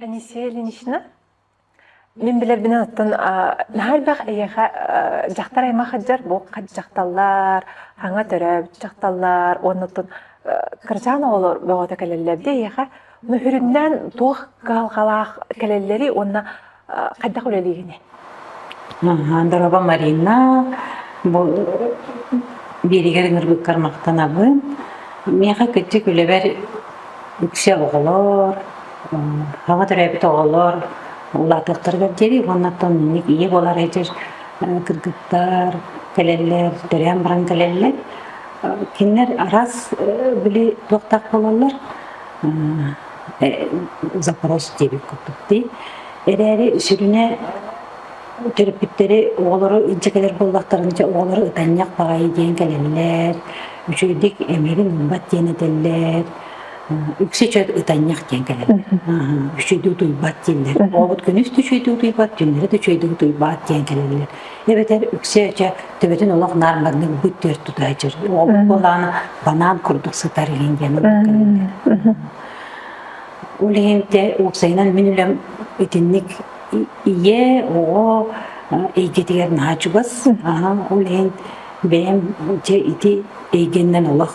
Анисия Ильинична, мин билэрбин аттан наһарбах эйиэхэ дьахтар аймах ыджар бу дьахталлар, хаҥа төрөөбүт дьахталлар уонна тун кырачаан оҕолор бөҕөтө кэлэллэр дии эйиэхэ Мөһүрүннээн туох кыһалҕалаах кэлэллэри уонна хайдах үлэлиигиний? Доруоба Марина, бу биэригэр ныргыккар махтанабын. Миэхэ кыттык үлэбэр үксэ оҕолор, саҥа төрөөбүт оҕолор улаатыахтарыгар диэри уоннаттан инник ийэ буолар эдэр кыргыттар кэлэллэр, төрөөн баран кэлэллэр. Кинилэр араас били туохтаах буолаллар запрос диэбит курдук дии. Эрээри сүрүнэ төрөппүттэри оҕолору илдьэ кэлэр буоллахтарына дьэ оҕолору ытанньах баҕайы диэн кэлэллэр, үчүгэйдик эмиэрин ылбат диэн этэллэр, үксэ чөл ытанньах диэн кэлэллэр. Үчүгэйдик утуйбат дииллэр. Оҕобут күнүс да үчүгэйдик утуйбат, түннэри да үчүгэйдик утуйбат диэн кэлэллэр. эбэтэр үксэ-өчө төбөтүн олох наар маннык бүт түөрт тутуһа дьөр оҕобут буолаана банаан курдук сытар илин диэн ол иһинте уопсайынан мин үлэм итинник ийэ оҕо эйгэтигэр наһаа чугас ол иһин бэйэм дьэ ити эйгэннэн олох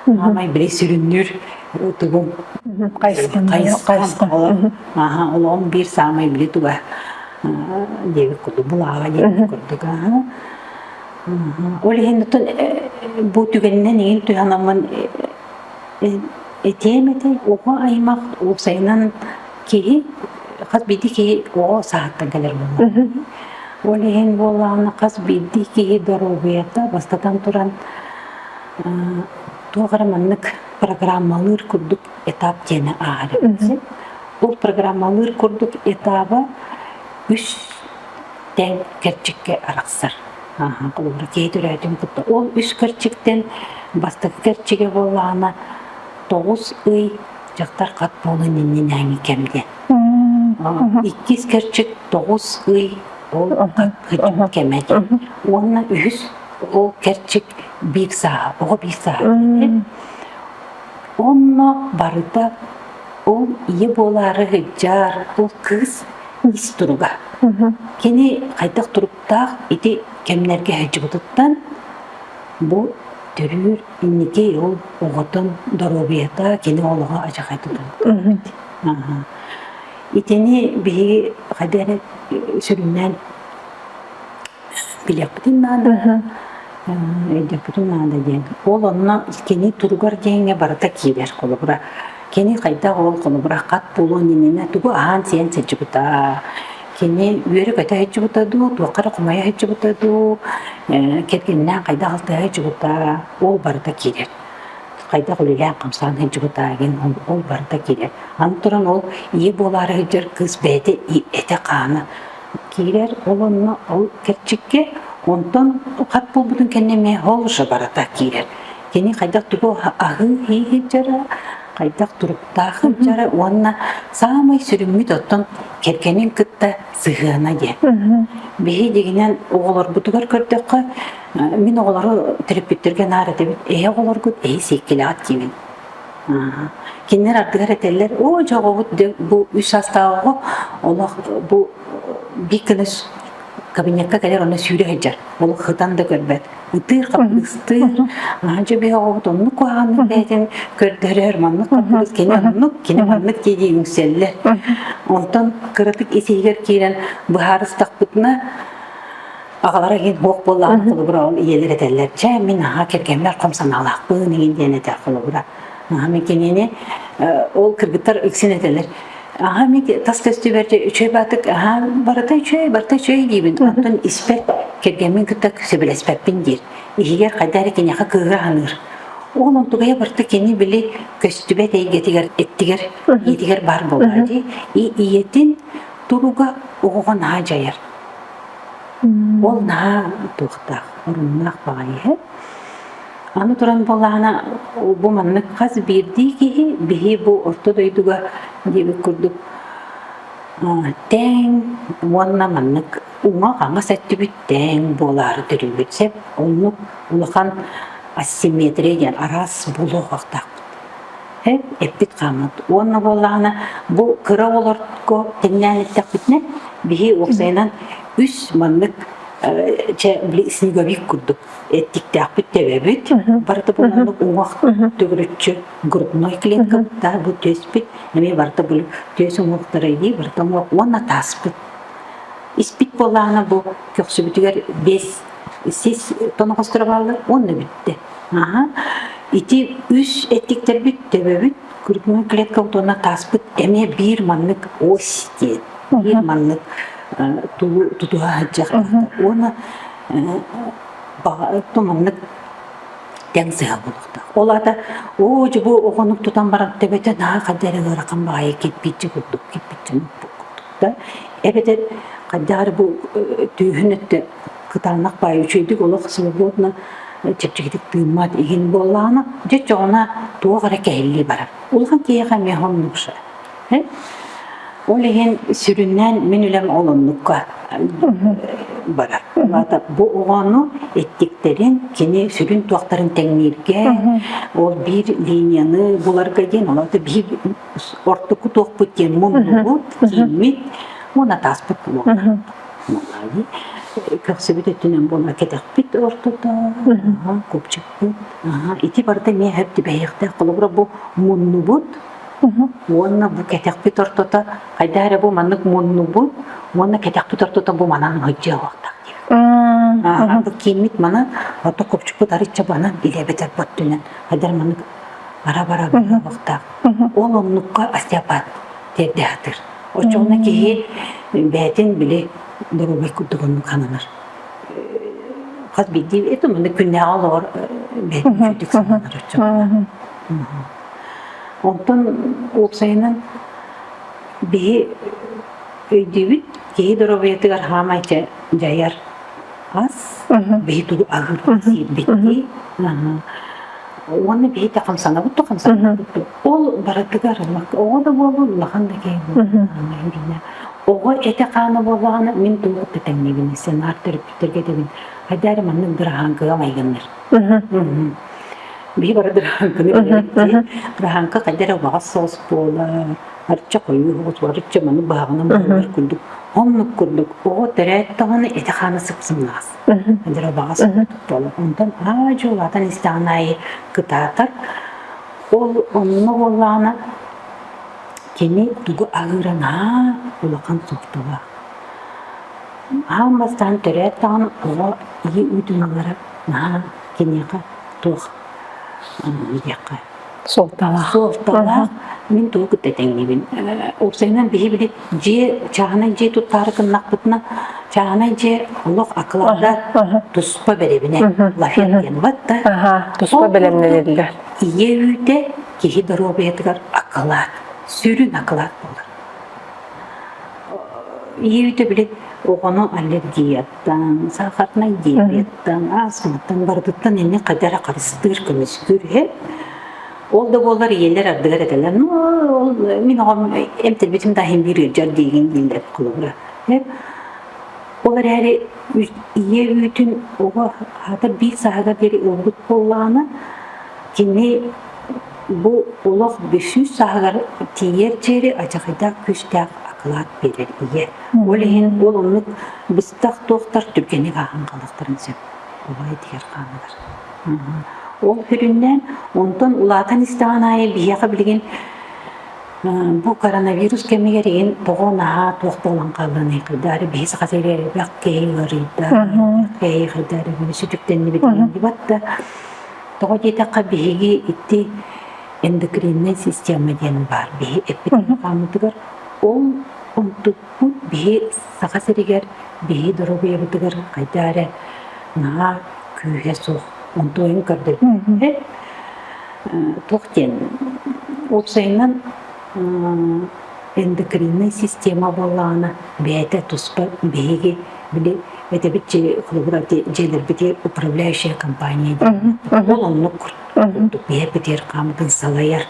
аамай били сүрүннүүр тугум хайысхам хайысхам олом биир саамай били туга диэбит курдук былааҕа диэбит курдук ол иһин оттон бу түгэнинэн иҥин туһанаммын этиэм этэй оҕо аймах уопсайынан киһи хас биирдии киһи оҕо сааттан кэлэр буолла ол иһин буоллаҕына хас биирдии киһи доруобуйата бастатан туран туох эрэ маннык программалыыр курдук этап диэни ааҕар этим. Бұл программалыыр курдук этабы үс тэн кэрчикке арахсар. Кылыгыра тиэй түрөтүн кытта. Ол үс кэрчиктен бастакы кэрчиге боллаана тоғыз ый дьахтар хат болын иннинээҥи кэмде. Иккис кэрчик тоғыз ый ол хат кэмеде. Уонна үһүс ол кэрчик биир саа, оҕо биир саа. Уонна барыта ол ийэ буолаары сылдьар ол кыыс ис туруга. Кини хайдах туруктаах ити кэмнэргэ сылдьыбытыттан бу төрүүр инники ол оҕотун доруобуйата кини олоҕо адьахайдатан итини биһиги хайдах эрэ сүрүннээн билиэхпитин наада өйдүөхпүтүн наада диэн ол онно кини туругар диэҥҥэ барыта киирэр холобура кини хайдах ол холобура хат буолуон иннинэ тугу аһаан сиэн сылдьыбыта кини үөрэ көтө сылдьыбыта дуу туохха эрэ хомойо сылдьыбыта дуу кэргэнинээн хайдах алтыһа сылдьыбыта ол барыта киирэр хайдах үлэлээн хамсаан сылдьыбыта диэн ол барыта киирэр аны туран ол ийэ буолаары сылдьар кыыс бэйэтэ этэ-хаана киирэр, ол онно ол кэрчиккэ, онтон хат буолбутун кэннэ эмиэ ол уже барыта киирэр. Кини хайдах тугу аһыы иһи дьара, хайдах туруктаах дьара уонна саамай сүрүммүт оттон кэргэнин кытта сыһыана диэн. Биһигинэн оҕолорбутугар көрдөххө, мин оҕолору төрөппүттэргэ наар этэбит, эһи оҕолоргут, эһи сиэккилэҕит диибин. Кинилэр ардыгар этэллэр, оо, дьоҕубут бу үс саастааҕы олох бу биир гына кабинетка кэлэр онно сүүрэ сылдьар. Ол хытан да көрбөт. Ытыыр хаппыыстыыр. Аанча биһоҕобут оннук куһаҕаннык бэйэтин көрдөрөр, маннык хаппыыс кини оннук, кини маннык диэки үҥсэллэр. Онтон кыратык ис иһигэр киирэн быһаарыстахпытына Аҕалара иһин буох буоллаҕын холобура ол ийэлэр этэллэр, дьэ мин аhaa кэргэммэр хом санаалаахпын игин диэн этэр холобура. Аhaa мин кинини ол кыргыттар үксүн этэлэр аха мин тас көстүү бэрдэ үчүгэй баатык аха барыта үчүгэй барыта үчүгэй диибин оттон испэт кэргэммин кытта сөбүлэспэппин диир иһигэр хайда эрэ киниэхэ кыыһы аһыныыр ол онтугайа барыта кини били көстүбэт эйгэтигэр эттигэр иитигэр баар буолла дии ийэтин туруга оҕоҕо наһаа дьайар Ол наһаа тутуохтаах, оруннаах баҕайы иһэ. Аны туран буоллаҕына, бу маннык хас биирдии киһи биһи бу орто дойдуга диэбит курдук тэҥ уонна маннык уҥа-хаҥас өттүбүт тэҥ буолаары төлүүбүт. Сөп, оннук улахан асимметрия диэн араас буолуохтаахпыт. эппит хааммыт уонна буоллаҕына бу кыра оҕолорго тэҥнээн эттэхпитинэ биһи уопсайынан үс маннык чэ били снеговик курдук эттиктээхпит тэбэбит барыта бу маннык уҥах төгүрүччү грудной клетка да бу түөспүт эмиэ барыта бу түөс уҥуохтара дии барыта уҥуох уонна тааспыт испит буоллаҕына бу көхсүбүтүгэр бес сис тоноҕосторо бааллар уонна бүттэ Наһаа ити үс эттиктэрбит төбөбүт күргүҥҥү клетка утуона тааспыт эмиэ биир маннык ось диэн биир маннык тулу тутуһа сылдьар уонна баҕа маннык тэҥ сыһа буолуохтаах. Ол аата оо дьубу оҕонук тутан баран төбөтө наахада эрэ ыарахан баҕайы кирпиччэ курдук кирпиччэ курдук да эбэтэр хайдах эрэ бу түүһүн өттө кытаанах баай үчүгэйдик олох свободно чэпчэкитик тыыммат иһин буоллаҕына дьэ чоҕуна туох эрэ кэһиллии барар улахан киһиэхэ эмиэ оннукша ол иһин сүрүннээн мин үлэм олуннукка барар вата бу оҕону эттиктэрин кини сүрүн туохтарын тэҥнииргэ ол биир линияны буларга диэн олото биир ортоку туохпут диэн муннубут кииммит мун атааспыт буолар Көхсүбүт өттүнэн буола кэтэхпит ортото, купчукпут. Ити барыта миэхэ тибэйиэхтээх. Холобура бу муннубут уонна бу кэтэхпит ортото хайдаа эрэ бу маннык муннубут уонна кэтэхпит ортото бу манан мыдьыалахтаах диэн. Бу кииммит манан, ото купчукпут арычча банан илэбэтэр боттунан хайдара маннык ара-бара быһабахтаах. Ол оннукка остеопат тиэрдэ атыр. Оччоҕуна киһи бэйэтин били доруобай курдук оннук сананар. Хас биирдии это маннык күннээҕи олоҕор бэйэтин сананар оччоҕуна. Онтон уопсайынан биһи өйдүүбүт киһи доруобайатыгар хаамай дьайар ас биһи тулу аһыыр биттии уонна биһи да хамсанабыт да хамсанабыт Ол барытыгар оҕо да буолбут улахан да киһи буолбут оҕо этэ-хаана буоллаҕына мин туох да тэҥнэбин сценар төрөппүттэргэ дэбин хайдары маннык дыраһааҥкаҕа майгыннар биһи бары дыраһааҥканы дыраһааҥка хайдары убаҕас соос буола арча хойуу соос арча маны бааҕына муһугар курдук оннук курдук оҕо төрөөт даҕаны этэ-хаана сыпсымнаҕас хайдары убаҕас буола онтон аа дьулаатан истэҕин аайы кытаатар Ол онно буоллаҕына кини тугу аһыыран аан улахан суохталаах. Аан бастаан төрөөт даҕаны оҕо ийэ ыытыылара наһаа киниэхэ туох диэххэ суолталаах суолталаах мин тугу кытта тэҥнибин уопсайынан биһи били дьиэ чааһынай дьиэ туттаары гыннахпытына чааһынай дьиэ олох акыларда туспа бэрэбинэ лафет диэн бат да туспа бэлэмнэниллэр Ийэ үүтэ киһи доруобуйатыгар акылаат, сүрүн акылаат буолар. Ийэ үүтэ били оҕону аллергияттан, саахатнай диабеттан, астматтан барытыттан инни хайда эрэ харыстыыр, көмүскүүр үһү. Ол да буоллар ийэлэр ардыгар этэлэр, ну ол мин оҕом эмтэрбитим да иһин биир ыалдьар диигин дииллэр холобура. Ол эрээри ийэ үүтүн оҕо аһата биир сааһыгар диэри ылбыт буоллаҕына, кини бу олох бүсүү сааһыгар тиийэр диэри адьахыйдаах күүстээх акылаат биэрэр ийэ. Ол иһин ол оннук быстах туохтар түргэнник ааһан хаалыахтарын сөп убай дигэр хааныгар. Ол көрүннээн онтон улаатан истэҕин аайы биһиэхэ билигин Бу коронавирус кэмигэр иһин тоҕо наһаа туох буолан хаалланый хайдары биһи саха сиригэр элбэх киһи ыарыйда, киһи хайдары биһи сүтүктэннибит диибат да тоҕо диэтэххэ биһиги ити эндокринная система диэн баар биһи эппит-хааммытыгар ол онтукпут биһи саха сиригэр биһи доруобуйабытыгар хайда эрэ наһаа күүһэ суох онтуойун көрдөрбүттэр туох диэн уопсайынан эндокриннай система буоллаҕына бэйэтэ туспа биһиги били этэбит дьиэлэрбитигэр управляющая компания диэн ол оннук курдук биһэр битиэр хаамытын салайар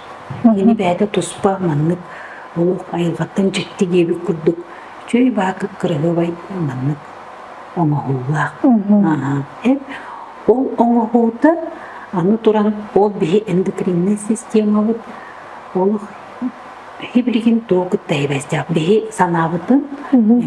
кини бэйэтэ туспа маннык олох айылҕаттан дьикти диэбит курдук үчүгэй баакы кыраһыабай маннык оҥоһуулаах eb Ол оҥоһуута аны туран ол биһи эндокриннай системабыт олох хибригин туох кытта эбэстээх биһи санаабытын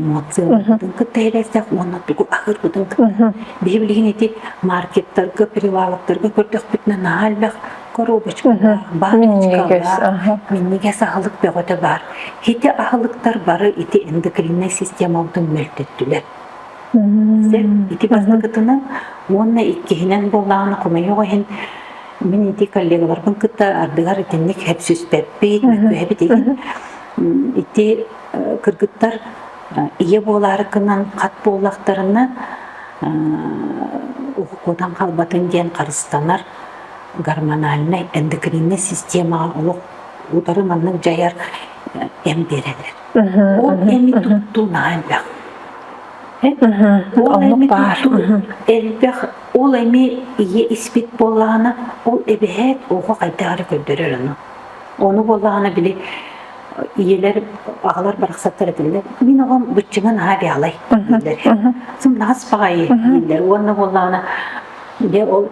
эмоциябытын кытта эбэстээх уонна тугу аһырбытын биһи билигин ити маркеттарга приваловтарга көрдөхпүтүнэ наһаа элбэх коробочкалаах баночкалаах миннигэс аһылык бөҕөтө баар ити аһылыктар бары ити эндокриннай системабытын мөлтөттүлэр ити бастакытынан уонна иккиһинэн буоллаҕына хомойуох иһин мин ити коллегаларбын кытта ардыгар итинник хепсүспэппит мөккүһэбит иһин ити кыргыттар ийэ буолаарыкынан хат буоллахтарына укукуутан хаалбатын диэн харыстанар гормональнай эндокриннэй системаҕа олох утары маннык дьайар эм биэрэлэр Ол эми туттуу наһаа элбэх. Ол эми туттуу элбэх. Ол эми ийэ испит буоллаҕына, ол эбэһээт оҕо хайдах эрэ көрдөрөр ону. Ону буоллаҕына били ийэлэр аҕалар барахсаттар этилэр мин оҕом быччыҥа наһаа бэҕалай дииллэр сымнаҕас баҕайы дииллэр уонна буоллаҕына Дьэ ол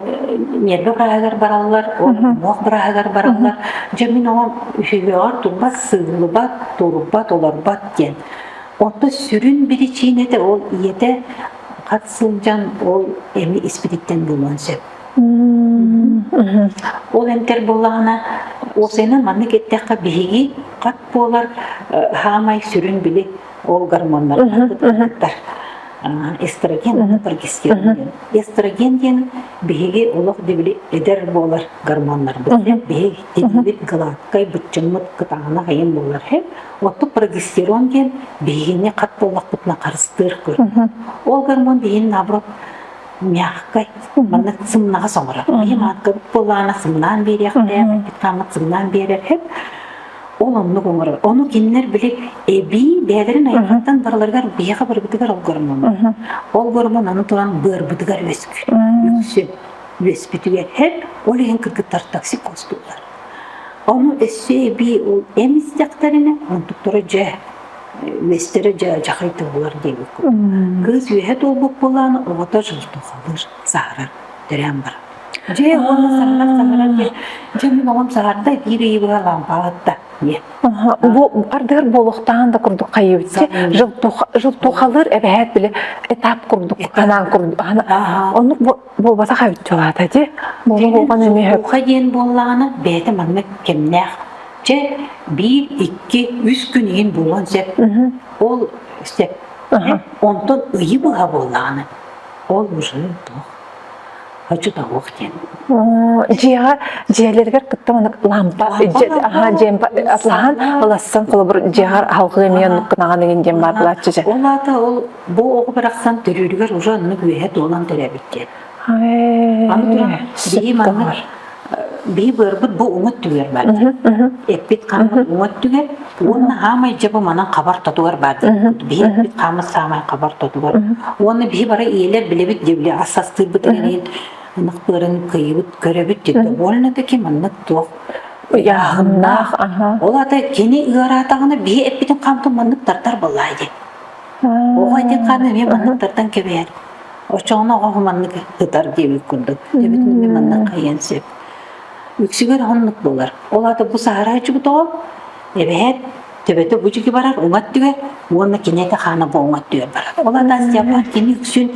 ньиэрбэ быраһыгар бараллар, ол муох быраһыгар бараллар. Дьэ мин оҕом үһүгүөҕэр турбат, сыыллыбат, турбат, олорбот диэн. Онтон сүрүн биричиинэтэ ол ийэтэ хат сылдьан ол эми испититтэн булуон сөп. Ол эмтэр буоллаҕына, уопсайынан маннык эттэххэ биһиги хат буолар э, хаамай сүрүн били ол гормоннар ыһыктар эстроген прогестируин эстроген диэн биһиги олох дибили эдэр буолар гормоннарбыт биһиги дибилит гладкай быччыммыт кытаанах айым буолар оттук прогестирон диэн биһигини хат боллохпутуна харыстыыр көр ол гормон биһин наоборот мягкой маннык сымнаҕа соҥорор биһим ааккабыт буолаана сымнаан биэриэхтээх хаммыт сымнаан биэрэр ол оннук оҥорор. Ону кинилэр били эбии бэйэлэрин айахтан барыларыгар биһиэхэ барыбытыгар ол гормон. Ол гормон аны туран быарбытыгар үөскүүр. Үксү үөспүтүгэр һэп, ол иһин кыргыттар токсикоз туолар. Ону өссө эбии ол эм истэхтэринэ, онтуктара дьэ үөстэрэ дьэ дьахайта булар диэбиккин. Кыыс үөһэ туолбут буолааны оҕото жылтухалыыр, саһарар. Тэрээм бар. Дьэ, уонна саһарар саһарар диэн, дьэ, оҕом саһарда, биир ыйы быһа лампа аһатта. Диэн. Бу ардыгар буолуохтаан да курдук хайыбытчы жылтухалыр эбэһээт биле этап курдук анаан курдук ону буолбата хайытчылаата ди болуган эмиһөкха диэн буоллаҕына бэйэтэ манна кэмнээх дьэ биир икки үс күн иһин буолуон сөп ол сөп онтон ыйы быһа буоллаҕына ол уже туох хочу того диэн дьиэҕэ дьиэлэригэр кытта маннык лампа аhaa дьиэм атлаһан ылассан холобур дьиэҕэр аһылҕы эмиэ оннуккунаҕан игин диэн баар былаччы дьэ ол аата ол бу оҕо барахсан төрүүрүгэр уже оннук үөһэ туолан төрөөбүт диэн аны туран сии маннык бии быарбыт бу уҥа өттүгэр баар эппит хааммыт уҥа өттүгэр уонна аамай дьэ бу манан хабар тотугар баар бии эппит хааммыт саамай хабар тотугар уонна бии бары ийэлэр билэбит диэ били ассастыырбыт ириин ынах быарын кыйыбыт көрөбүт диэтэ больно таки маннык туох ыйааһыннаах ол ата кини ыараатаҕына бии эппитин хаамтын маннык тартар боллаа дии оҕо этин хааны эмиэ маннык тартан кэбиһэр Оччоҕуна оҕо маннык ытар диэбит курдук. Эбэтин эмиэ манна хайыан сөп. Үксүгэр оннук буолар. Ол аата бу саарааччыбыт оҕо эбэһээт төбөтө бу дьиги барар уҥат түгэр уонна киниэхэ хаана бу уҥат түгэр барар. Ол Анастия кини үксүн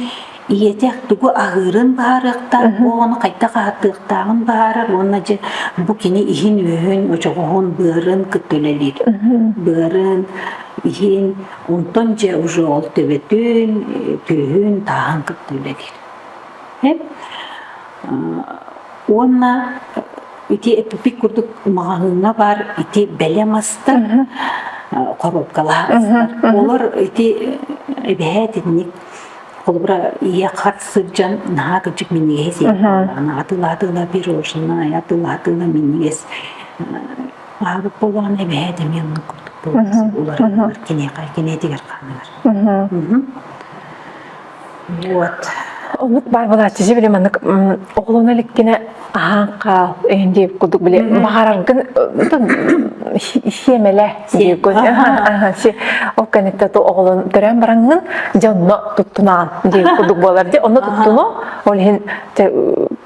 ийэтэ тугу аһыырын баһарыахтаах, бу оҕону хайдах аһатыахтааҕын баһарар уонна дьэ бу кини иһин-үөһүн, очоҕоһун, быарын кытта үлэлиир. Быарын, иһин, Онтон дьэ уже ол төбөтүн, түөһүн тааһын кытта үлэлиир. Уонна ити эпипик курдук маҕаһыыҥҥа баар ити бэлэм астар, коробкалаах Олор ити эбэһээ итинник холобура ийэ хат сылдьан наһаа кырдьык минньигэс атыылаатыыла пирожное атыылаатыыла минньигэс Аһарык болоон эбэһээт эмиэ оннук курдук буолар. Уларытылар киниэхэ киниэтигэр хааныгар. Вот. Оннук баар былааччы жибили маннык оҕолоно иликкине аһаан хаал эйин диэк курдук биле баҕараргын хиэмэлэ диэккун ол кэннитте ту оҕолон төрөөн бараҥҥын дьонно туттунаан диэн курдук буолар де онно туттуну ол иһин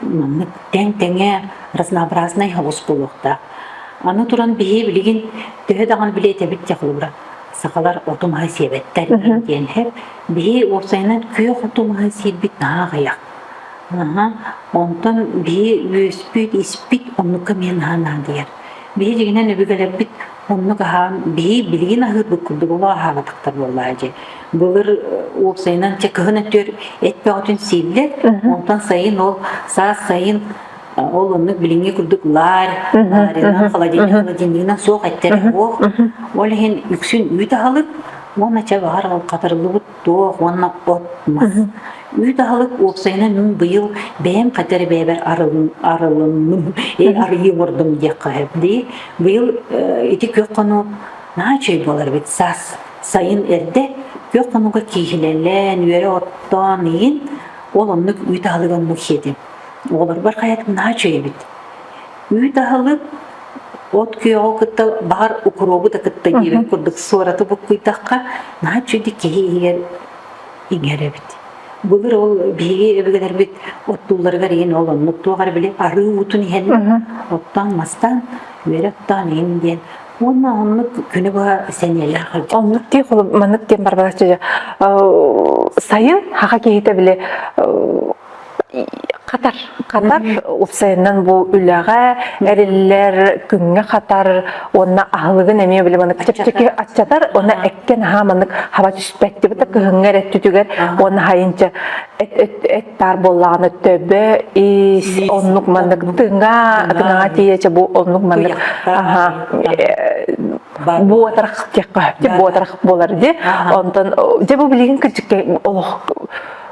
маннык тэҥ-тэҥэ разнообразнай һобус буолуохтаах. Аны туран биһи билигин төһө даҕаны билиэтэбит дьэ холобура сахалар оту маһы сиэбэттэр диэн иһэр. Биһи уопсайынан күөх оту маһы сиирбит наһаа аҕыйах. Аһа, онтон биһи үөспүт, испит оннукка эмиэ наһаа наадыйар. Биһи дьиҥинэн өбүгэлэрбит Оннук аһаан биһи билигин аһыырбыт курдук оло аһаан атахтар буоллаһа дьэ. Былыр уопсайынан чэ кыһын өтүөр эт бөҕөтүн сииллэр, онтон сайын ол саас сайын ол оннук билиҥҥи курдук лаарь, лаарьынан, холодильнигынан суох эттэр буол. Ол иһин үксүн үүт аһалып уонна чэ баһар ол хатарыллыбыт туох уонна от мас. Үүт аһылык уопсайынан мин быйыл бэйэм хатар бэйэбэр арылынным, эй арыйыы олордум диэххэ сөп дии. Быйыл ити күөх хону наа чөй болар бит саас сайын эрдэ күөх хонуга кииһилэлэн, үөрэ оттоон иин ол оннук үүт аһылыгын мухиэтим. Оҕолорбор хайатым наа чөй эбит. Үүт аһылык от күөҕү кытта баҕар укуруобу да кытта диэбит курдук суораты буккуйдахха наһаа чуди киһи иһигэр иҥэр эбит. Былыр ол биһиги өбүгэлэрбит оттуулларыгар иһин ол оннук туох эрэ били арыы уутун иһэн оттоон мастаан үөрэ оттоон иһин диэн уонна оннук күнү быһа сэниэлээх ылдьыт. Оннук дии холом маннык диэн барбалааччы сайын хаха киһитэ били Хатар. Хатар уопсайынан бу үлэҕэ эриллэр, күҥҥэ хатар, уонна аһылыгын эмиэ били маннык чэпчэки аччатар, уонна эккен аһаа маннык хаба түспэттибит да кыһыҥҥы эрэ өттүтүгэр уонна хайынча эт эт эт таар буоллаҕына төбө ис оннук маннык тыҥа тыҥаҕа тиийэчэ бу оннук маннык аха бу атарах диэххэ бу атарах буолар ди онтон дьэ бу билигин кырдьыкка олох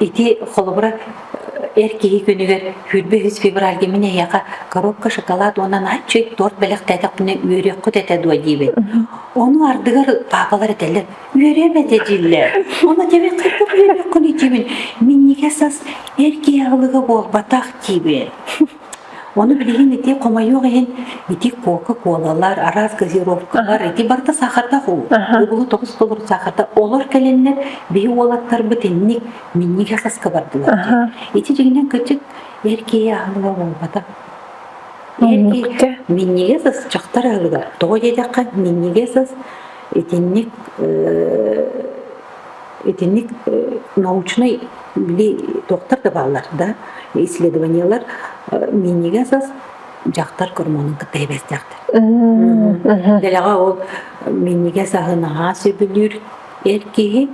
Ити холобура эр киһи күнүгэр хүйрбэ үһүс февральга мин эһиэхэ коробка шоколад уонна наччый торт бэлэхтээтэхпинэ үөрүөххүт этэ дуо диибин. Ону ардыгар паапалар этэллэр үөрүөм этэ дииллэр. Ону дэмик кырдык үөрүөххүн диибин. Миннигэ сас эр киһи аһылыга буолбатах диибин. Ону билигин ити хомойуох иһин ити кока-колалар, араас газировкалар, ити барыта саахардаах уу. Уобулу тоҕус толору саахарда олор кэлэннэр биһи уолаттарбыт инник минньигэ саска бардылар. Ити дьигинэн көтүт эр киһи аһылыга буолбата. Муннукка минньигэ сас чахтар аһылыга. Тоҕо диэтэххэ минньигэ сас итинник Итинник научнай били туохтар да бааллар да исследованиелар минньигэс ас дьахтар гормонун кытта сибээстэхтэр. Дэлэҕэ ол минньигэс аһы наһаа сөбүлүүр эр киһи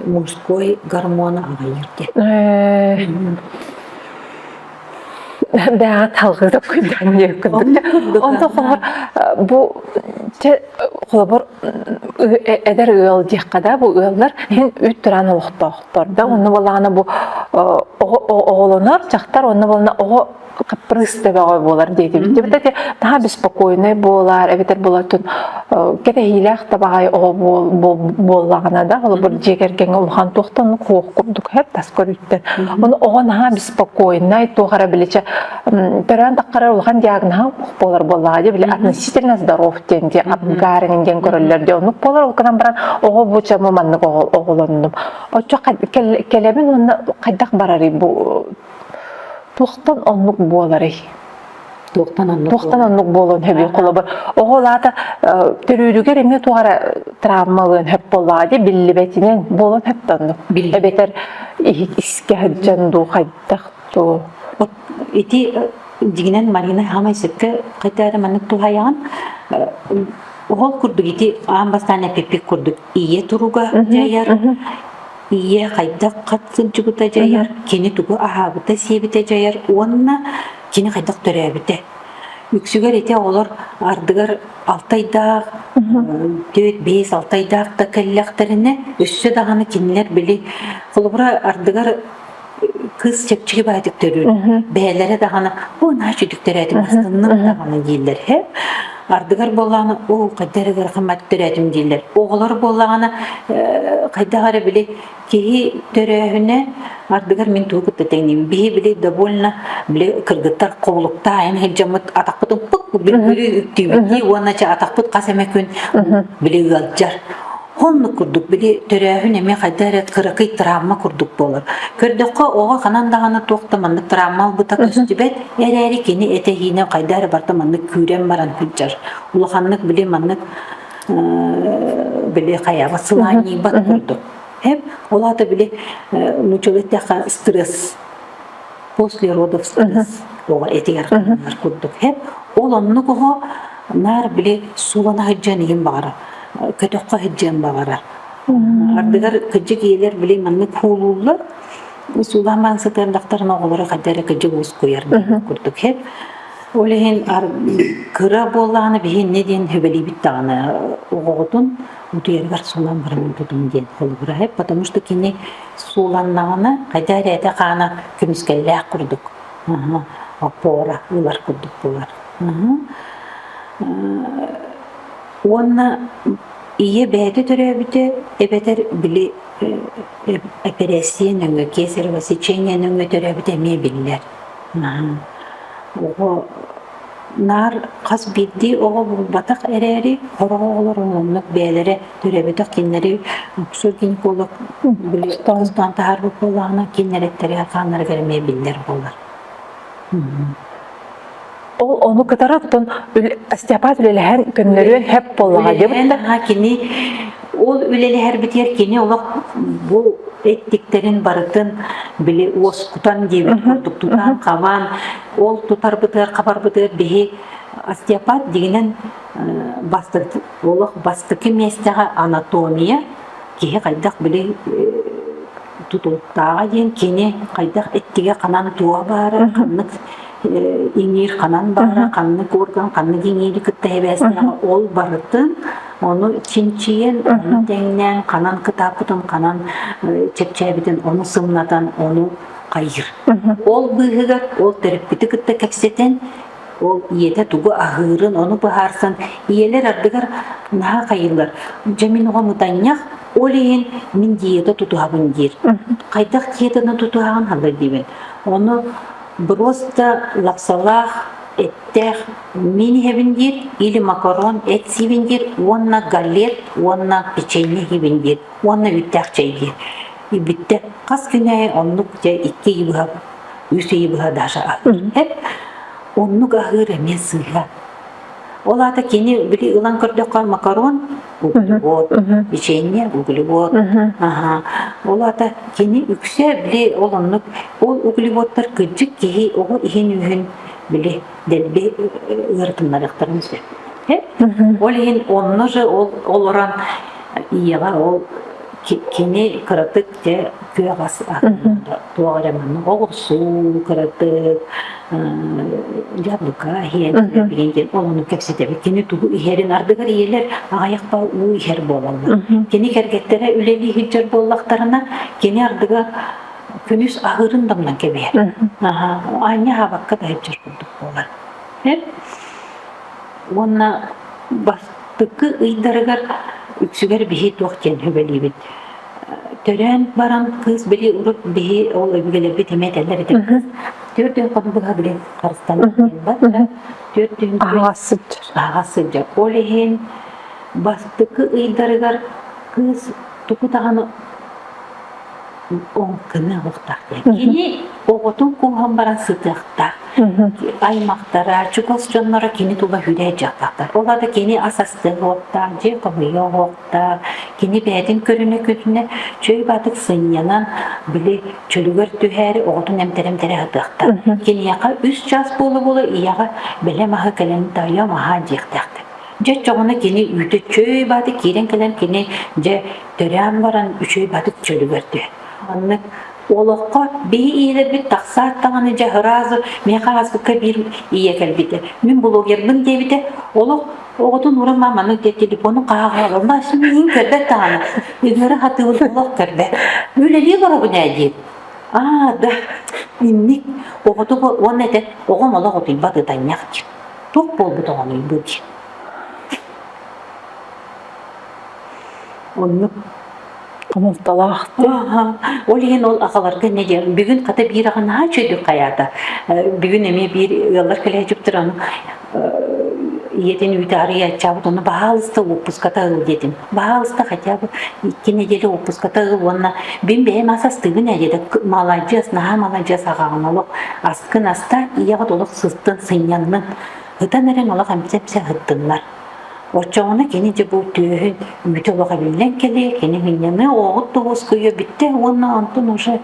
мужской гормону аҕайыыр диэн. Дээҕэ талгыытап күндээнниэ курдук. Онто хоһор бу те холобур эдэр ыал диэххэ да бу ыаллар ин үт тураан олохтоохтор да онну балаана бу оҕолонор чахтар онну балана оҕо капрысты бөҕө буолар диэтибит. Таха беспокойный буолар, эбэтэр болатын кэтэһиилээх табаҕай оҕо буоллаҕына да, олбур дьиэ кэргэҥ улахан туохтан куох курдук хэр тас көрүттэн. Ону оҕо наһаа спокойнай, туох эрэ биличе төрөөн тахкара улахан диагноһа буолар буоллаҕа дии били относительно здоров диэн диэн апгарин диэн көрөллөр диye оннук болар ол кынан баран оҕо бу чамы маннык оҕолоннум оччо кэлэбин уонна хайдах барарый бу туохтан оннук буоларый туохтан оннук туохтан оннук буолуон сөбүй холобур оҕол аата төрүүрүгэр эмиэ туох эрэ травмалыан сөп буоллаҕа дии биллибэтинэн буолуон сөп оннук эбэтэр искэ сылдьан дуу хайдах дуу ити дигинен Марина хамай сөпкө хотя маннык тухаяҕын ол курдук ити аан бастаан эпиппик курдук ийэ туруга дьайар ийэ хайдах хат сылдьыбыта дьайар кини тугу аһаабыта сиэбитэ дьайар уонна Кини хайдах төрөөбүтэ. Үксүгэр ити оҕолор ардыгар алтайдаах, төрт, бэс, алтайдаах да кэллэхтэринэ, өссө даҕаны кинилэр били, холобура, ардыгар кыыс чэпчэки баайдык төрүүр. Бэйэлэрэ даҕаны бу нач үдүк төрөөтүм астынным даҕаны дииллэр һэ. Ардыгар буоллаҕына оо хайда эрэ ыарахан төрөөтүм дииллэр. Оҕолор буоллаҕына хайдах эрэ били Киһи төрөөһүнэ ардыгар мин тугу кытта тэҥниим. Биһи били довольно били кыргыттар куолуктаан сылдьаммыт атахпыт уппут били бүлүү үктүүбүттүү уонна чэ атахпыт хас эмэ күн били ыалдьар. Оннук курдук били төрөөһүн эмиэ хайда эрэ кыракый травма курдук буолар. Көрдөххө оҕо ханан даҕаны туох да маннык травма ылбыта көстүбэт эрээри кини этэһиинэ хайда эрэ барта маннык күүрэн баран сылдьар. Улаханнык били маннык били хайаҕа сылаанньыйбат курдук. Ол аата били нуччалыы эттэххэ стресс после родов стресс оҕо этигэр ханар курдук. Ол оннук оҕо наар били суолана сылдьан иһин баҕара, көтөххө сылдьыан баҕара. Ардыгар кыдьык ийэлэр били маннык куулууллар. Суулаан баан сытыан дактарын оҕолору хайда эрэ кыдьык уускуйар курдук. Ол иһин кыра буоллаҕына биһиэннэ диэн сүбэлиибит даҕаны оҕоҕутун утуйарыгар суолан барыммытын диэн холобураһы, потому что кини сууланнаҕына хайдах эрэ этэ-хаана көмүскэллээх курдук опора ылар курдук буолар. Уонна ийэ бэйэтэ төрөөбүтэ эбэтэр били эпэрээссийэ нөҥүө, кесарево сечение нөҥүө төрөөбүтэ эмиэ биллэр. Наһаа оҕо наар хас биирдии оҕо булбатах эрээри, хороҕо олорон оннук бэйэлэрэ төрөбүтэх кинилэри уксуу гинеколог били тоҕоостоон таһаарбыт буоллаҕына кинилэриттэрэ хааннарыгар эмиэ биллэр буолар. Ол ону кытары оттон Остеопат үлэлэһэн көннөрүөн хэп буоллаҕа диэбит да. Кини Ол үлэлэһэрбитигэр кини олох бу эттиктэрин барытын били уоскутан диэбит курдук тутан хабан ол тутарбытыгар хабарбытыгар биһи остеопат дигинэн бастакы олох бастакы миэстэҕэ анатомия киһи хайдах били тутулуктааҕа диэн кини хайдах эттигэ ханан туга баара ханнык иҥиир ханан барара, ханнык орган, ханнык иҥиири кытта эбээстэҕэ ол барытын ону чинчийэн, ону тэҥнээн, ханан кытааппытын, ханан чэпчээбитин, ону сымнатан, ону хайыр. Ол быыһыгар ол төрүппүтү кытта кэпсэтэн, ол ийэтэ тугу аһыырын, ону быһаарсан, ийэлэр ардыгар наһаа хайылар. Дьэ мин оҕо мутанньах, ол иһин мин диета тутуһабын диир. Хайдах диетаны тутуһаҕын халлар диибин. Ону Броста лапсалаах, эттээх, мин иһэбин диир, или макарон эт сиибин диир уонна галет уонна печенье иһибин диир уонна үүттээх чэй диир. И бүттэ хас күн айы оннук дьэ икки ый быһа үс ый быһа даша аһыыр. Оннук аһыыр эмиэ сыыһа. Ол аата кини били ылан көрдөххө макарон, углевод, печенье, углевод. Ол аата кини үксэ били ол оннук ол углеводтар кырдьык киһи оҕо иһин-үһүн били дэлби ыарытыннарыахтарын сөп. Ол иһин онно же ол олорон ийэҕэ ол Кини кыратык дьэ күөҕэс туох эрэ манна оҕурсуу кыратык яблоко иһэн билигин диэн олону кэпсэтэбит кини тугу иһэрин ардыгар ийэлэр аҕайахха уу иһэр буолаллар кини кэргэттэрэ үлэлии сылдьар буоллахтарына кини ардыгар күнүс аһыырын дамнан кэбиһэр аанньа аабакка да сылдьар курдук буолар Уонна бастакы ыйдарыгар үксүгэр биһи туох диэн сүбэлиибит. Төрөөн баран кыыс били урут биһи ол өбүгэлэрбит эмиэ этэллэр этэ кыыс түөрт өй хам быһа били харыстан барда. Түөрт өйүн Аһаҕас сылдьар. аһаҕас сылдьар. Ол иһин бастакы ыйдарыгар кыыс тугу даҕаны ол көмө оҕотох диэн кини оҕотун кууһан баран сытыахтаах аймахтара чугас дьонноро кини тула үрэ дьахтар ол да кини ас астыах уоттаах дьиэ хомуйуо уоттаах кини бэйэтин көрүнэ көрүнэ чөй батык сынньанан били чөлүгэр түһээри оҕотун эмтэрэ эмтэрэ сатыахтаах киниэхэ үс чаас буола буола ийэҕэ бэлэ маһа кэлэн тайо маһа диэхтээхтэр дьэ чоҕуна кини үүтэ чөй бааты киирэн кэлэн кини дьэ Төрөөн баран үчүгэй батык чөлүгэр түһэн. Маннык олоххо биһи ийэлэрбит тахсаат даҕаны дьэ сразу миэхэ хаспыкка биир ийэ кэлбитэ. Мин блогербын диэбитэ. Олох оҕотун уран маманы диэ телефону хаалалла сүмүһүн көрбөт даҕаны. Ыгыра хатыыбын олох көрбөт. Үлэлии боробун ээ диир. Аа да инник оҕоту уонна этэ оҕом олох утуйбат ытанньах диир. Туох буолбут оҕону бу диир. Оннук хомолтолоох. Ол иһин ол аҕаларга эмиэ диэн бүгүн хата биир аҕа наһаа үчүгэйдик хайаата. Бүгүн эмиэ биир ыаллар кэлээчүптэр аны ийэтин үүтэ арыйааччаабыт ону баһаалыста уоппуската ыл диэтим. Баһаалыста хотя бы икки недели уоппуската ыл уонна бин бэйэм ас астыыбын ээ диэтэ маладьыас наһаа маладьыас аҕаҕын олох аскын аста ийэҕит олох сыстын сынньаннын ытан эрэн олох эмсэ эмсэ ыһыттыннар Оччоҕуна кини дьэ бу түөһүн үмүтэ олох эбиллэн кэлиэ, кини сынньаныа, оҕоҕут да уоскуйуо бүттэ уонна онтун уже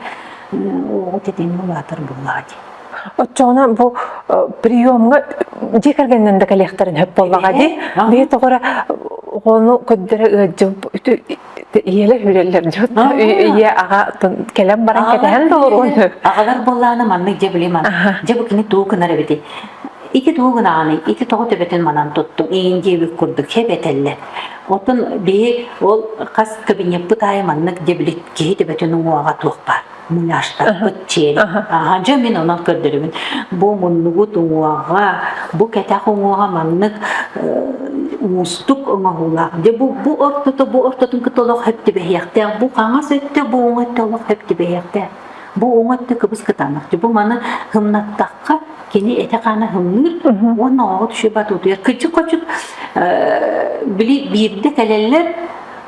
оҕот этиини улаатар буоллаҕа дии. Оччоҕуна бу приемҥа дьиэ кэргэнинэн да кэлиэхтэрин сөп буоллаҕа дии. Бэйэ тоҕора оҕону көрдөрө ыалдьыбыт ийэлэ хүрэллэр дьон ийэ аҕа кэлэн баран кэтэһэн толоруой аҕалар буоллаана маннык дьэ билим дьэ бу кини туу гынар эбити ити туу гынааны ити тоҕо төбөтүн манан туттуң иин диэбит курдук хэбэтэллэр оттон бии ол хас кабинеппыт аайы маннык дьэ били киһи төбөтүн уҥуоҕа туох баар муняштаппыт тиэри. Аха, дьэ мин онон көрдөрөмүн. Бу муннугут уҥуоҕа, бу кэтэх уҥуоҕа маннык уустук оҥоһуулаах. Дьэ бу бу ортото бу ортотун кытта олох хэптибэһиэхтээх. Бу хаҥас өттө, бу уҥ өттө олох хэптибэһиэхтээх. Бу уҥ өттө кыбыс кытаанах. Бу маны һымнаттахха кини эти-хаана һымныыр уонна оҕоҕо түшү батутуйар. Кычык-хочук били биирдэ кэлэллэр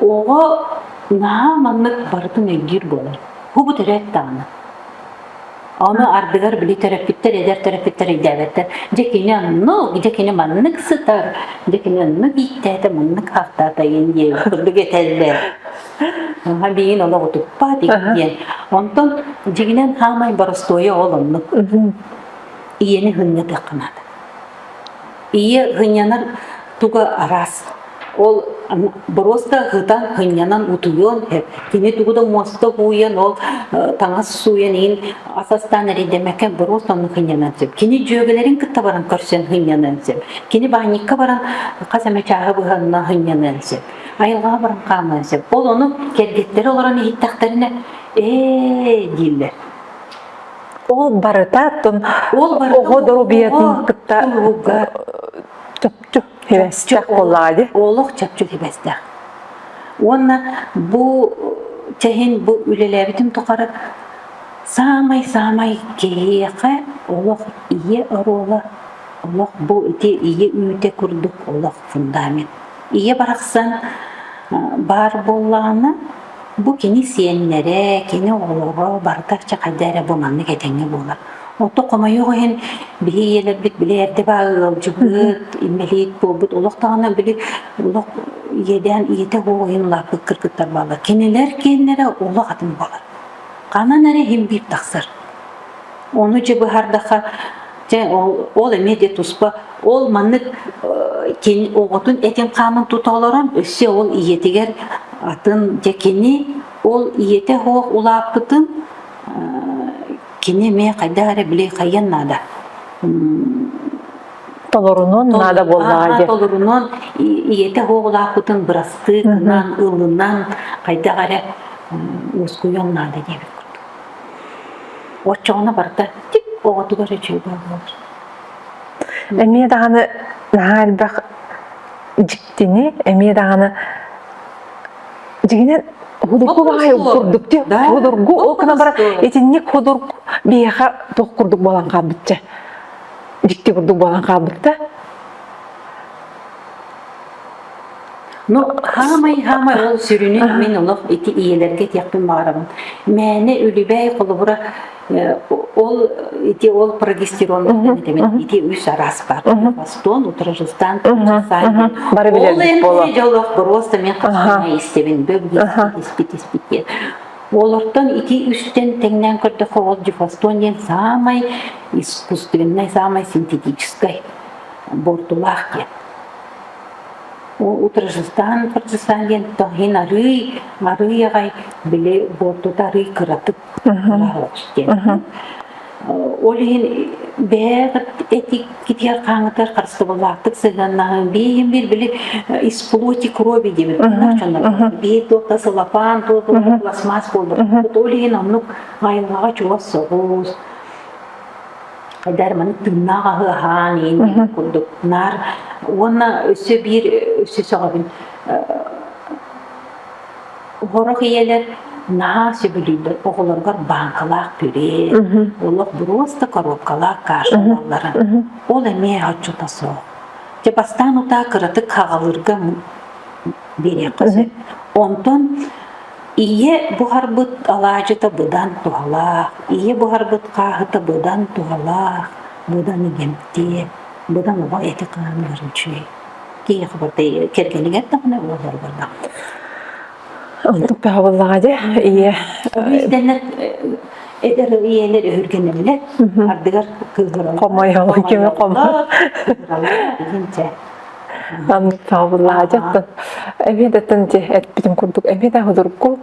Оҕо наһаа маннык барытын өйдүүр буолар. Хубу төрөөт даҕаны. Ону ардыгар били төрөппүттэр, эдэр төрөппүттэр өйдөөбөттөр. Дьэ кини оннук, дьэ кини маннык сытар, дьэ кини оннук ииттээтэ, маннык ааттаата диэн диэн курдук этэллэр. Аха биин олох утуппаат диэн. Онтон дьигинэн хаамай боростуойа ол оннук. Ийэни хынньатыахха наада. Ийэ һынньанар туга араас. Ол боруоста һытан һынньанан утуйуон, кини тугу да муоста бууйан, ол таҥас сууйан иһин ас астаан эрийдэмэккэ боруоста онно һынньанан сөп. Кини дьүөгэлэрин кытта баран көрсөн һынньаныан сөп. Кини баанньыкка баран хас эмэ чааһы быһанна һынньаныан сөп. Айылҕаҕа баран хаамыан сөп. Ол ону кэргиттэрэ олорон иһиттэхтэринэ ээ дииллэр. Ол барытатын оҕо доруобуйатын кытта чөпчүк хевэстэх болади. Олох чөпчүк хевэстэх. Уонна бу чэһин бу үлэлээбитим тухары саамай-саамай киһиэхэ олох ийэ оруола, олох бу ити ийэ үүтэ курдук олох фундамент. Ийэ барахсан баар буоллаҕына, бу кини сиэннэрэ, кини оҕолоро барыта чахайда эрэ бу маннык этэҥҥэ буолар. Отто хомойуох иһин, биһи ийэлэрбит били эрдэ баа ыалдьыбыт, инбэлиит буолбут олох даҕаны били олох иэдээн ийэтэ буола улааппыт кыргыттар бааллар. Кинилэр киэннэрэ олох атын буолар. Ханан эрэ иһин биир тахсар. Ону дьэ быһаардахха, Дьэ, ол эмиэ де туспа. Ол маннык кини оҕотун этин хаамын тута олорон өссө ол ийэтигэр атын дьэ кини ол ийэтэ хоох улааппытын кини эмиэ хайдах эрэ били хайан наада толорунуон наада буоллаҕа дии толорунуон ийэтэ хоохулаахпытын бырастыы гынан ылынан хайдах эрэ ускуйуон наада диэбит курдук Оччоҕуна барда тик оҕотугар үчүгэй буолар. Эмиэ даҕаны наһаа элбэх дьиктини, эмиэ даҕаны дьигинэн худургу баҕайы курдук ти худургу ол гына бар итинник худург биһиэхэ туох курдук буолан хаалбычча дьикти курдук буолан хаалбытта Ну, хаамай хаамай ол сүрүнү мин олох ити ийэлэргэ этиэхпин баҕарабын. Мээнэ үлүбээй холобура э, ол ити ол прогестеронныттан этэмин ити үс араас баар. Бастон, утражустан, саайдын. Бары билэрбит буолуо. Ол олох просто мен хасыма истэбин. Бөбүгүспит испит испит диэн. Олортон ити үстен теңнен көрдөхө ол дифастон диэн самай искусственный, самай синтетический бортулаах диэн. Уу утарыжыстаан утарыжыстаан диэн тоһин арыый арыый аҕай били буортута арыый кыратык кыраһалык диэн. Ол иһин бэйэҕит этик китиэр хааңытыгар харыстабыллаахтык сыһыаннаһан биэһин биир били исплоти крови диэбит дьоннор бие туота сылапаан туота пластмасс буолбут ол иһин оннук айылҕаҕа чугас соҕус хайдаар маны тыыннаах аһы аһаан иин курдук наар уонна өссө биир өссө сөҕөбүн оһорох ийэлэр наһаа сөбүлүүллэр оҕолоргор бааҥкалаах күрээ олох буруоста коробкалаах кашалалларын ол эмиэ оччото суох дьэ бастаан утаа кыратык хаҕалыырга биэриэххэ сөп онтон Ийэ буһарбыт алаадьыта быдан туһалаах, ийэ буһарбыт хааһыта быдан туһалаах, быдан игэмтиэ, быдан оҕо эти хаанылар үчүгэй. Киһиэхэ барыта кэргэнигэр даҕаны буолларбар да. Онтук таһабыллаҕа дьэ, ийэ. Биирдэнэр эдэр ийэлэр өһүргэнэллэр, ардыгар кыыһыраллар. Хомойоллор, кими хомой. Саабылаадьаттан эбиэдэтин дьэ этпитим курдук эбиэдэ худургу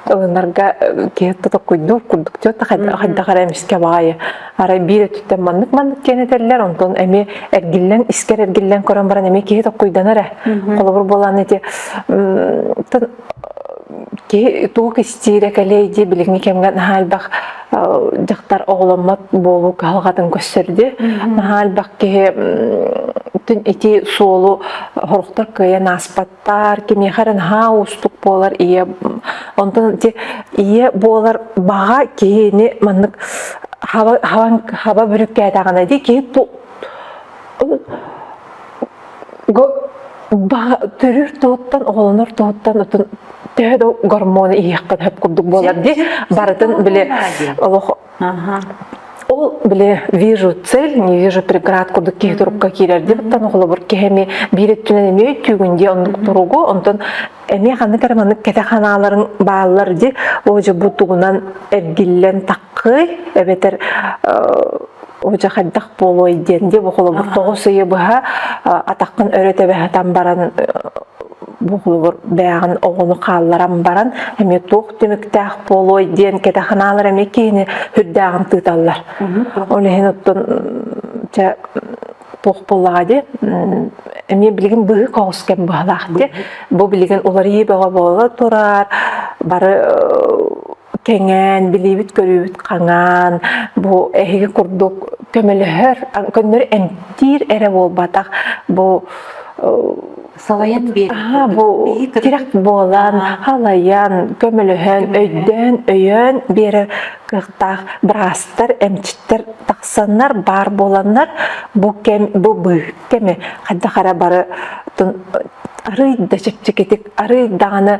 ылынарга киһи тотоккуйдуур курдук чөт хайдах эрэ эмискэ баайы арай биир өттүттэн маннык маннык диэн этэллэр онтон эмиэ эргиллэн искэр эргиллэн көрөн баран эмиэ киһи токкуйданар ээ холобур буолааны ити киһи тугу кистиирэ кэлиэй дии билиҥҥи кэмҥэ наһаа элбэх дьахтар оҕоломмот буолуу кыһалҕатын көрсөрдө. Наһаа элбэх киһи түн ити суолу хоруктар кыайан ааспаттар, кимиэхэ эрэ наһаа уустук буолар ийэ онтон ити ийэ буолар баҕа киһини маннык хаба хаба бүрүккээтэҕинэ дии киһи төрүүр тылыттан, оҕолонор тылыттан отун төһө да гормоны иһиэххэ сөп курдук буолар дии. Барытын били олох ол били вижу цель, не вижу преград курдук киһи турукка киирэр диэбиттэн оҕолобур киһэми биир өттүнэн эмиэ түүгүн дии оннук туругу, онтон эмиэ ханнык эрэ маннык кэтэ ханааларын бааллар дии, оо бу тугунан эргиллэн Кый эбэтэр уже хайдах буолуой диэн диэ бу холобур тоҕус ыйы быһа атаххын өрө тэбэһэтэн баран бу холобур бэйэҕин оҕону хаалларан баран эмиэ туох түмүктээх буолуой диэн кэтэханаалар эмиэ киһини үрдээҕин тыыталлар ол иһин оттон чэ туох буоллаҕа дии эмиэ билигин быһыы коҕус кэм быһалаах дии бу билигин уларыйыы бөҕө буола турар бары кэҥээн, билиибит-көрүүбүт хаҥаан, бу эһиги курдук көмөлөһөр, көннөрү эмтиир эрэ буолбатах бу салайан биэрии бу тирэх буолан халайан көмөлөһөн өйдөөн өйөөн биэрэр кыахтаах быраастар эмчиттэр тахсаннар баар буоланнар бу кэм бу быы кэми хайдах эрэ бары арый да чэпчэкитик арый даҕаны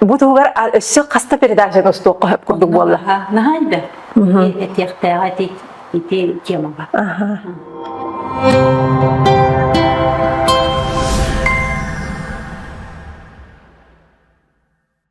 Бу туһугар өссө хаста передачаны устуохха хөп курдук буолла. Наһаа да. Этиэхтээх эти ити темаға.